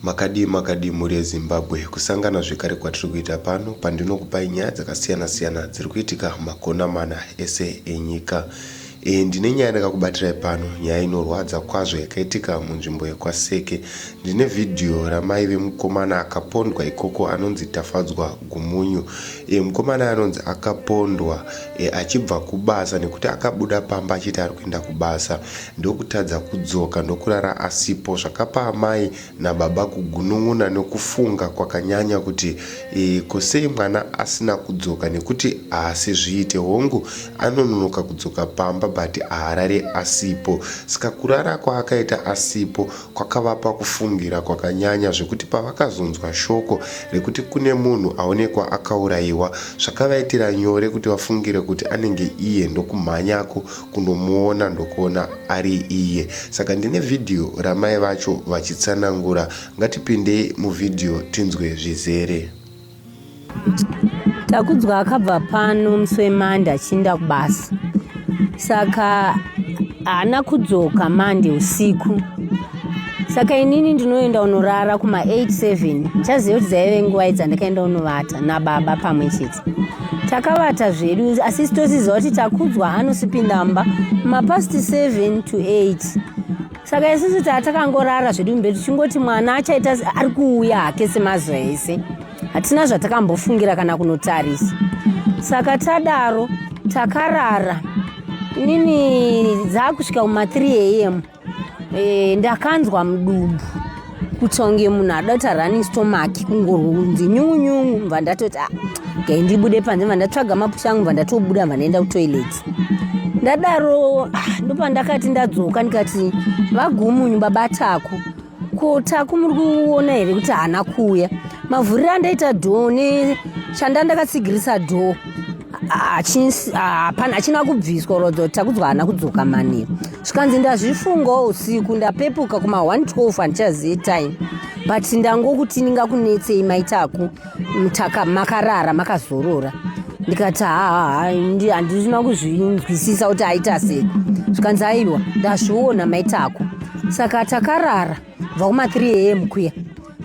makadii makadii mhuri yezimbabwe kusangana zvekare kwatiri kuita pano pandinokupai nyaya dzakasiyana-siyana dziri kuitika makona mana ese enyika E, ndine nyaya ndakakubatirai pano, nyaya inorwadza kwazvo yakaitika munzvimbo yekwaSeke. Ndine vhidhiyo ramai vemukomana akapondwa ikoko anonzi Tafadzwa Gumunyu. E, mukomana anonzi akapondwa e, achibva kubasa nekuti akabuda pamba achiti ari kuenda kubasa ndokutadza kudzoka ndokurara asipo zvakapa amai nababa kugunun'una nekufunga kwakanyanya kuti ii ko sei mwana asina kudzoka nekuti haasi zviite hongu anononoka kudzoka pamba but haarari asipo ska kurara kwaakaita asipo kwakavapa kufungira kwakanyanya zvekuti pavakazonzwa shoko rekuti kune munhu aonekwa akauraiwa zvakavaitira nyore kuti vafungire kuti anenge iye ndokumhanyako kundomuona ndokuona ari iye saka ndine vhidhiyo ramai vacho vachitsanangura ngatipindei muvhidhiyo tinzwe zvizere takudzwa akabva pano musi wemande achiinda kubasa saka haana kudzoka mande usiku saka inini ndinoenda unorara kuma 87 ndichaziva kuti dzaive nguva idzandakaenda unovata nababa pamwe chete takavata zvedu asi sitosiziva kuti takudzwa hanosipi number mapast 7 to 8 saka isusu taa takangorara zvedu mberi tichingoti mwana achaita ari kuuya hake semazuva ese hatina zvatakambofungira kana kunotarisa saka tadaro takarara nini dzaakusvika kuma 3 am Eh, ndakanzwa mudumbu kutonge munhu adota running stomach kungorunzi nyunyunyu mva ndatoti ah, gai ndibude panze mva ndatsvaga mapusha angu mva ndatobuda mva ndaenda kutoilet ndadaro ah, ndopandakati ndadzoka ndikati vagumunyu babatako ko taku muri kuona here kuti haana kuuya mavhuriro andaita dhoo ne chanda ndakatsigirisa dhoo hapana achina kubviswa rodzo takudzwa haana kudzoka maniro zvikanzi ndazvifungawo usiku ndapepuka kuma 112 handichazive time but ndangokuti ndingakunetsei maitaku mutaka makarara makazorora ndikati haa handisina kuzvinzwisisa kuti aita sei zvikanzi aiwa ndazviona maitako saka takarara bva kuma 3 am kuya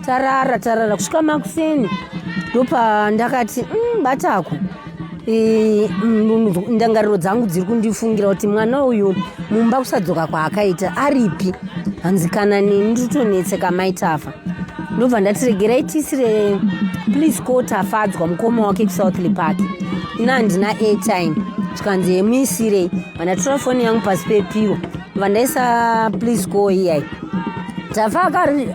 tarara tarara kusvika makuseni ndopandakati mm, batako ndangariro dzangu dziri kundifungira kuti mwana uyu mumba kusadzoka kwaakaita aripi hanzi kana neni nditotonetseka mai tafa ndobva ndati regerai tisire please ko tafadzwa mukoma wake kusouthly park ina handina airtime zvikanzi hemuisirei vandatora foni yangu pasi pepiro Vanessa please go here tafa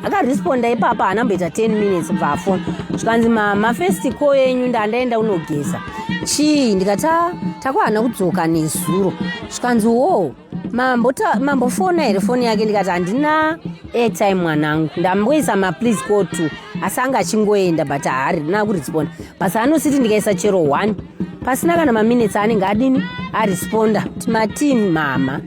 akaresponda ipapa haana mboita 10 minutes kubva afona zvikanzi mama first call yenyu ndandaenda unogeza chii ndikati takwahana kudzoka nezuro zvikanzi wo mambofona here foni yake ndikati handina airtime mwanangu ndamboisa maplease call to asi anga achingoenda but haari rina kurespond basa anositi ndikaisa chero one pasina kana maminutes anenge adini aresponda kuti matini mama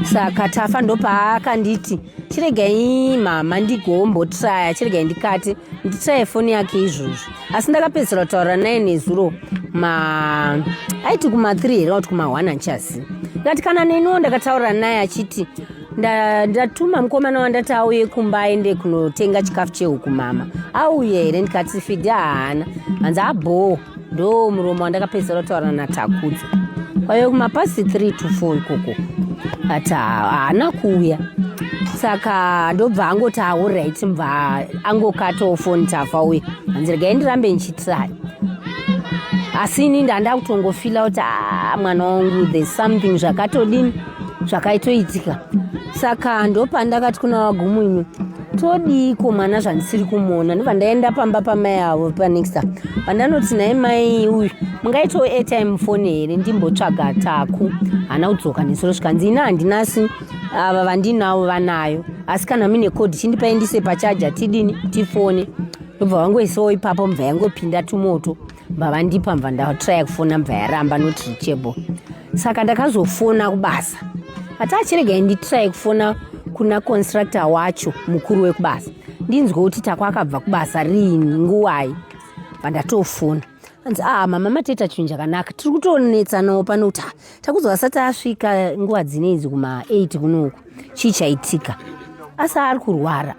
saka tafa ndopaakanditi chiregai mama ndigombotraya chiregai ndikati nditraye foni yake izvozvo asi ndakapedzisira kutaura naye nezuro ma aiti kuma3 here auti kuma1 anchasi ndikati kana neniwo ndakataura naye achiti ah, ndatuma mukomana wandati auye kumba aende kunotenga chikafu chehuku mama auye here ndikati fidhi haana hanzi abhoo ndo muromo wandakapedzisira kutaura natakudzo kwaive kumapasi 3 to 4 ikoko ati haana kuuya saka ndobva angoti aurit mva angokatawo foni tafa uye hanzi regai ndirambe ndichitrai asi ini ndandakutongofila kuti a ah, mwana wangu there's something zvakatodini zvakaitoitika saka ndopandakati kuna vagumu imi todiiko mwana zvandisiri kumuona ndobva ndaenda pamba pamai avo panexta pandanoti nai mai uyu mungaitawo airtime fone here ndimbotsvaga taku hana kudzoka nesoro zvikanzi ina handinasi ava vandinavo vanayo asi kana mine code chindipaindise pachaja tidini tifone ndobva vangoisawo ipapo mubva yangopinda tumoto vavandipa mva ndatraya kufona mva yaramba not reachable saka ndakazofona kubasa ati achiregai nditraye kufona kuna constructor wacho mukuru wekubasa ndinzwe kuti tako akabva kubasa riini nguwai vandatofona anzi a ah, mama mateta chinhu chakanaka tiri kutonetsanawo pano kuti takuzo asati asvika nguva dzineizi kuma 8 kunoku chii chaitika asi ari kurwara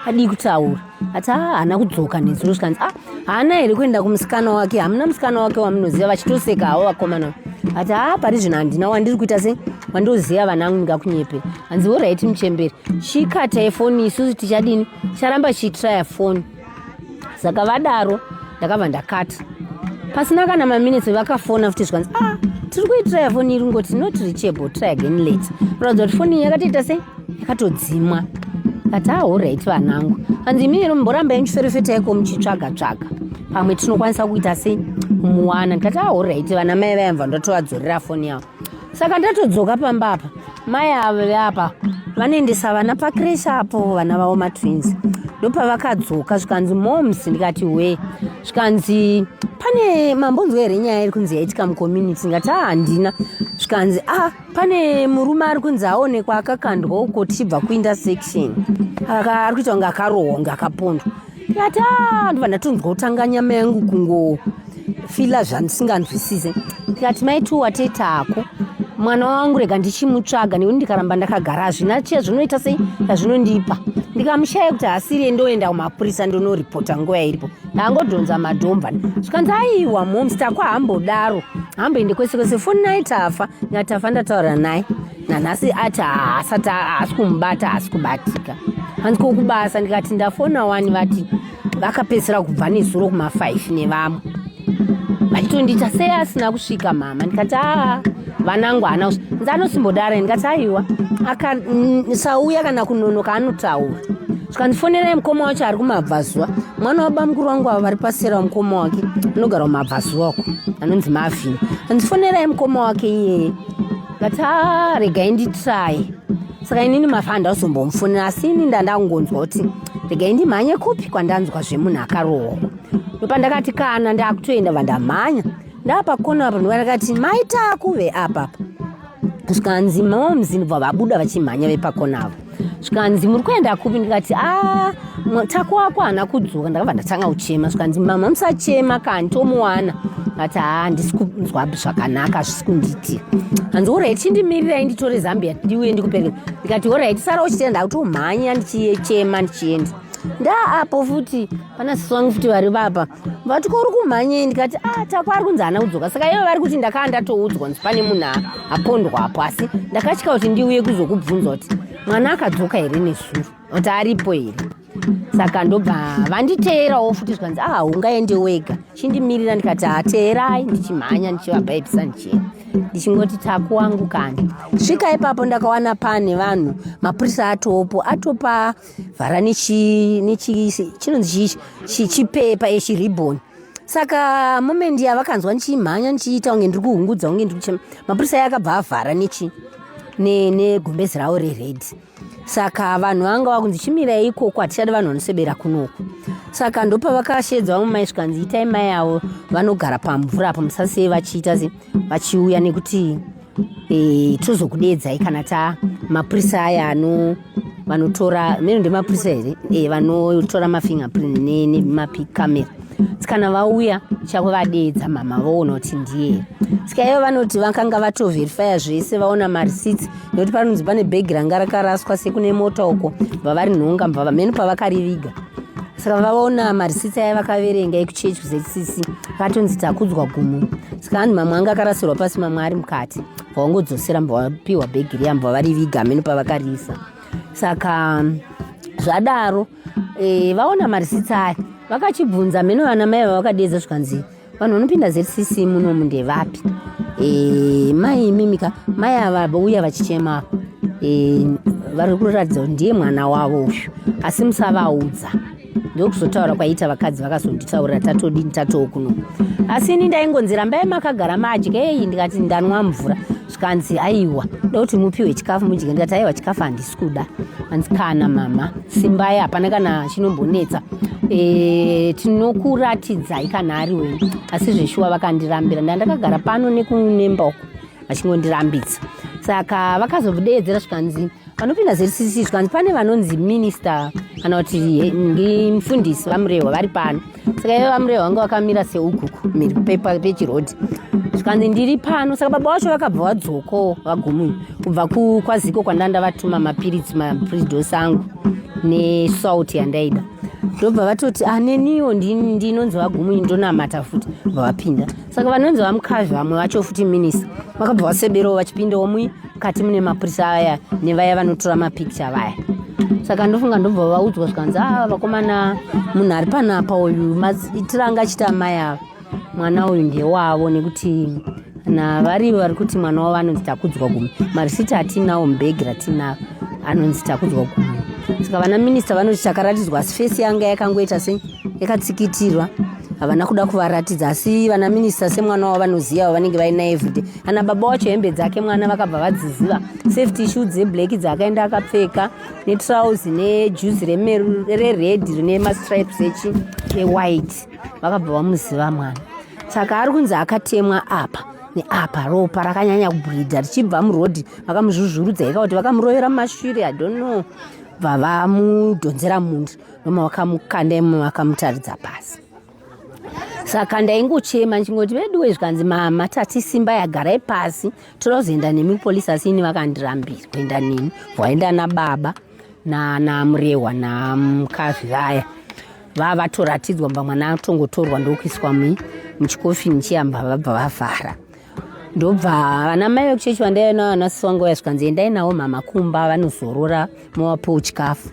adii kutaura ati ah, haana kudzoka nezuro zvikanzi ah, haana here kuenda kumusikana wake hamuna musikana wake wamunoziva vachitoseka havo vakomana ati a ah, pari zvino handina wandiri kuita se wandoziva vana angu ndingakunyepe hanzi horaiti muchemberi chikatae foni isusu tichadini ticharamba chiitiraya foni saka vadaro ndakabva ndakati pasina kana maminitsi vakafona futi zvikanzi ah tiri kuitira yafoni iri ngoti not reachable try again late kuratidza kuti foni yakatoita sei yakatodzimwa kati ahorit ah, vanangu hanzi imini ino mboramba yendiferefeta yako muchitsvaga tsvaga pamwe tinokwanisa kuita sei muwana ndikati ahorit ah, vana mai vayamva ndotovadzorera foni yavo saka ndatodzoka pamba apa mai avo veapa vanoendesa vana pakrish apo vana vavo matwins ndopavakadzoka zvikanzi moms ndikati we zvikanzi pane mambonzwa here nyaya iri kunzi yaitika mucommunity ndikati a ah, handina zvikanzi a ah, pane murume ari kunzi aonekwa akakandwa uko tichibva kuintersection ari kuita kunge akarohwa kunge akapondwa Tata ndibva ndatonzwa kutanga nyama yangu kungofila zvandisinganzwisise ndikati mai tu watei tako mwana wangu rega ndichimutsvaga nekuti ndikaramba ndakagara hazvina chiya zvinoita sei yazvinondipa ndikamushaya kuti haasiriye ndoenda kumapurisa ndonoripota nguva yairipo ndaangodhonza madomba zvikanzi aiwa moms takwa hambodaro hamboende kwese kwese foni naye tafa ndikati tafa ndataura naye nanhasi ati haasati haasi kumubata haasi kubatika hanzi kokubasa ndikati ndafona wani vati vakapedzisira kubva nezuro kuma5 nevamwe vachitondiita sei asina kusvika mama ndikati aa vanangu haana kusvi nzi anosimbodara ndikati aiwa akasauya kana kunonoka anotaura zvikandifonerai mukoma wacho ari kumabvazuva mwana wabamukuru wangu avo vari pasera wamukoma wake anogara kumabvazuva uko anonzi mavhini andifonerai mukoma wake iyeye but ah, regai nditry saka inini mafa handazombomufonera asi ini ndandakungonzwa kuti regai ndimhanye kupi kwandanzwa zvemunhu akarohwa ndopandakati kana ndakutoenda vandamhanya ndaapakona apa ndopandakati maita kuve apapa zvikanzi mamamuzini bva vabuda vachimhanya vepakonavo zvikanzi muri kuenda kupi ndikati a ah, tako wako haana kudzoka ndakabva ndatanga kuchema zvikanzi mama musachema kani tomuwana ati haa handisi kunzwa zvakanaka hazvisi kundiitika hanzi orit chindimirirai nditore zambia ndiuye ndikupereka ndikati orit sara uchitenda ndakutomhanya ndichiyechema ndichienda ndaa apo futi pana sisi wangu futi vari vapa vati ko uri kumhanyei ndikati a ah, tako ari kunzi haana kudzoka saka ivo vari kuti ndakaa ndatoudzwa nzi pane munhu apondwapo asi ndakatya kuti ndiuye kuzokubvunza kuti mwana akadzoka here nezuro kuti aripo here saka ndobva vanditeerawo futi zvikanzi a ah, ungaende wega chindimirira ndikati hateerai ah, ndichimhanya ndichivabhaibisa ndichienda ndichingoti taku wangu kani svika ipapo ndakawana pane vanhu mapurisa atopo atopa vhara nechinonzi chipepa ichi riboni saka moment yavakanzwa ndichimhanya ndichiita kunge ndiri kuhungudza kunge ndiri kuchema mapurisa aye akabva avhara nechi negumbezi ravo rered saka vanhu vanga vakunzi chimirai ikoko hatichadi vanhu vanosebera kunoku saka ndopavakashedza vamwe mai zvikanzi itai mai avo vanogara pamvura apo musasei vachiita se vachiuya nekuti e, tozokudeedzai kana ta mapurisa aya ano vanotora mene ndemapurisa here e, vanotora mafingerprint nemapicamera tsikana vauya chako vadeedza mama voona kuti ndiye tsika ivo vanoti vakanga vatoverifya zvese vaona marisits nekuti panonzi pane bhegi ranga rakaraswa sekune mota uko bva varinhonga mbavamheno pavakariviga saka vaona marisitsi aya vakaverenga ekuchechi kuzecc akatonzi takudzwa gumo saka anhu mamwe anga akarasirwa pasi mamwe ari mukati vaongodzosera mva vapiwa bhegi riya mva vari viga amene pavakariisa saka zvadaro e, vaona marisitsi aya vakachibvunza mheno vana mai vavakadedza zvikanzi vanhu vanopinda zcc munomu ndevapi eh, mai imimika mai ava vauya vachichema eh, vari kuratidza kuti ndiye mwana wavo uyu asi musavaudza ndokuzotaura kwaiita vakadzi vakazonditaurira tatodini tatookuno asi ini ndaingonzi rambai makagara madya eyi ndikati ndanwa mvura zvikanzi aiwa da kuti mupiwe chikafu mudye ndikati aiwa chikafu handisi kuda hanzi kana mama simbai hapana kana chinombonetsa e, tinokuratidzai kana ari wei asi zveshuwa vakandirambira nda ndakagara pano nekunemba uku vachingondirambidza saka vakazodeedzera zvikanzi vanopinda zrcc zvikanzi pane vanonzi minista kana kuti mufundisi vamurehwa vari pano saka iye vamureva vanga vakamira seukuku miri pepa pechirodi zvikanzi ndiri pano saka baba wacho vakabva vadzokawo vagumuyi kubva kwaziko kwandanga ndavatuma mapiritsi mapridos angu nesalt yandaida ndobva vatoti ah, neniwo ndinonzi vagumuyi ndonamata futi bva vapinda saka vanonzi vamukazvi vamwe vacho futi minisa vakabva vaseberawo vachipindawo muyi mukati mune mapurisa aya nevaya vanotora mapicture vaya saka ndofunga ndobva vaudzwa zvikanzi ava ah, vakomana munhu ari panapa uyu itiranga achiti amai ava mwana uyu ndewavo nekuti na vari vari kuti mwana wavo anonzi takudzwa gumi marisiti atinawo mubhegi ratinavo anonzi takudzwa gumi saka vana minista vanoti takaratidzwa asi fesi yanga yakangoita se yakatsikitirwa havana kuda kuvaratidza asi vana minista semwana wavo vanoziva vavanenge vainaye vhidhe Ana baba wacho hembe dzake mwana vakabva vadziziva safety shoe dzeblack dzaakaenda akapfeka netrouse nejuzi rered rine mastripes echi ewhite vakabva vamuziva mwana saka ari kunzi akatemwa apa neapa ropa rakanyanya kubhurida richibva murodhi vakamuzvuzvurudza ika kuti vakamurovera mumashure adono bva vamudhonzera mundi noma vakamukanda imomo vakamutaridza pasi saka ndaingochema ndichingoti veduwe zvikanzi mama tati simba yagarai pasi toda kuzoenda nemi polisi asi ini vakandirambira kuenda neni vaenda nababa nanamurehwa namkazi vaya vava vatoratidzwa mba mwana atongotorwa ndokuiswa muchikofini chiyamba vabva vavhara ndobva vana mai vekuchechi vandaiva navo vanasisi wangu vaya zvikanzi endai navo mama kumba vanozorora movapowo chikafu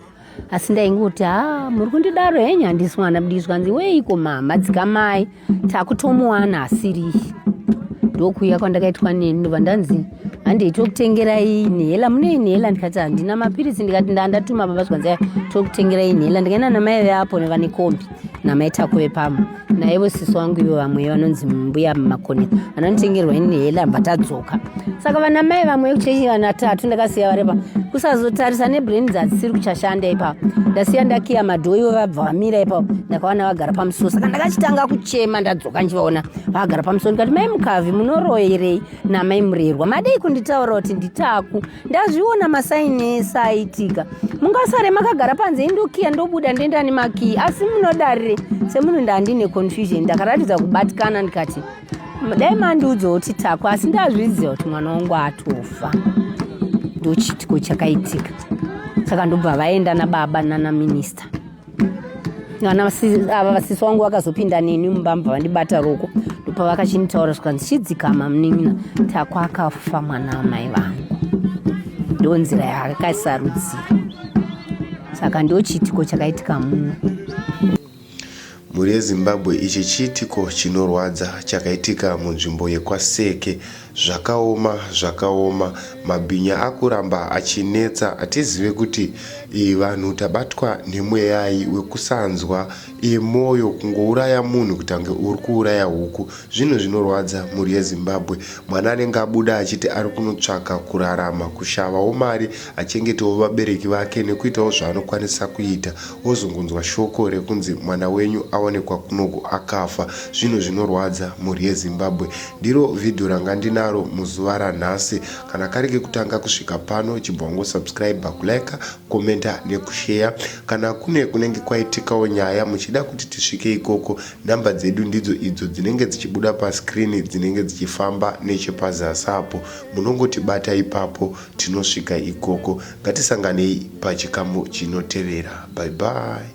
asi ndaingoti ha muri kundidaro henyu handisi mwana mdii zvikanzi weiko mama dzikamai takutomuwana asiriyi ndokuuya kwandakaitwa neni ndobva ndanzi handei tokutengerai nhela mune inhela ndikati handina mapiritsi ndikati ndandatuma baba zvikanzi tokutengera inhela ndikaenda namai veapo nevane kombi namai takuve pamwe naivo sisi wangu ivo vamwe vanonzi mbuya makoni vanonitengerwa ini hela bva tadzoka saka vana mai vamwe kuchechi vana tatu ndakasiya varepa kusazotarisa nebrains hadzisiri kuchashanda ipapo ndasiya ndakiya madhoo ivo vabva vamira ipapo ndakawana vagara pamusoro saka ndakachitanga kuchema ndadzoka ndichivaona vagara pamusoro ndikati mai mukavi munoroyerei namai murerwa madei kunditaura kuti nditaku ndazviona masaini ese aiitika mungasare makagara panze indokiya ndobuda ndoenda nemakiyi asi munodarire semunhu ndandine confusion ndakaratidza kubatikana ndikati dai mandiudza kuti takwa asi ndazviziva kuti mwana wangu atofa ndochitiko chakaitika saka ndobva vaenda nababa nanaminista vana ava vasisi wangu vakazopinda neni mumbamba vandibata roko ndopa vakachinitaura zvikanzi chidzikama munin'ina takwa akafa mwana wamai vangu ndo nzira yaakaisarudzira saka ndo chiitiko chakaitika muno mhuri yezimbabwe ichi chiitiko chinorwadza chakaitika munzvimbo yekwaseke Zvakaoma zvakaoma mabhinya akuramba achinetsa hatizive kuti ii vanhu tabatwa nemweyai wekusanzwa ii moyo kungouraya munhu kutange urikuuraya huku zvinhu zvinorwadza mhuri yezimbabwe mwana anenge abuda achiti arikunotsvaka kurarama kushavawo mari achengetewo vabereki vake nekuitawo zvaanokwanisa kuita wozongonzwa shoko rekunzi mwana wenyu aonekwa kunoku akafa zvinhu zvinorwadza mhuri yezimbabwe Ndiro video ranga ndinaro muzuva ranhasi. Kana kari kekutanga kusvika pano chibva wango subscriber, kuliker, commenter nekushare. Kana kune kunenge kwaitikawo nyaya muchida kuti tisvike ikoko number dzedu ndidzo idzo dzinenge dzichibuda pascreen dzinenge dzichifamba nechepazasi apo. Munongotibata ipapo tinosvika ikoko. Ngatisanganei pachikamu chinotevera. Bye bye.